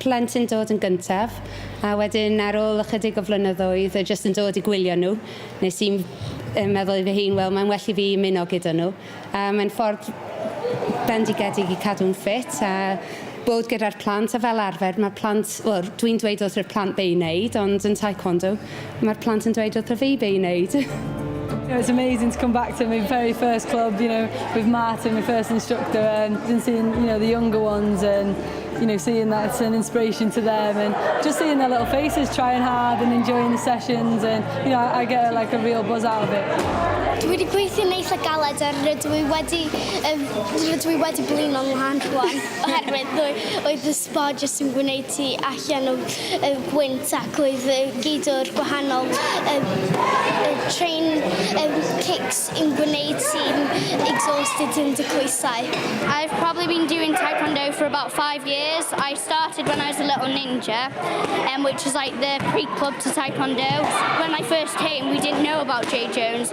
plant yn dod yn gyntaf, a wedyn ar ôl ychydig o flynyddoedd o jyst yn dod i gwylio nhw, nes i'n meddwl i fy hun, wel mae'n well i fi ymuno gyda nhw. A mae'n ffordd bendigedig i cadw'n ffit a bod gyda'r plant, a fel arfer mae plant, wel dwi'n dweud wrth yr plant be' i wneud ond yn taekwondo, Mae'r plant yn dweud wrtho fi be i wneud. You know, it's amazing to come back to my very first club, you know, with Martin, my first instructor, and then seeing, you know, the younger ones and, you know, seeing that it's an inspiration to them and just seeing their little faces trying hard and enjoying the sessions and, you know, I, I get like a real buzz out of it. Dwi wedi gweithio neis a galed a rydw i wedi, um, rydw i wedi blino'n wahan rwan oherwydd oedd y Sbo jyst yn gwneud ti allan o gwynt ac oedd gydwr gwahanol train kicks yn gwneud ti'n exhausted yn dy coesau. I've probably been doing taekwondo for about five years. I started when I was a little ninja, um, which is like the pre-club to taekwondo. When I first came, we didn't know about Jay Jones,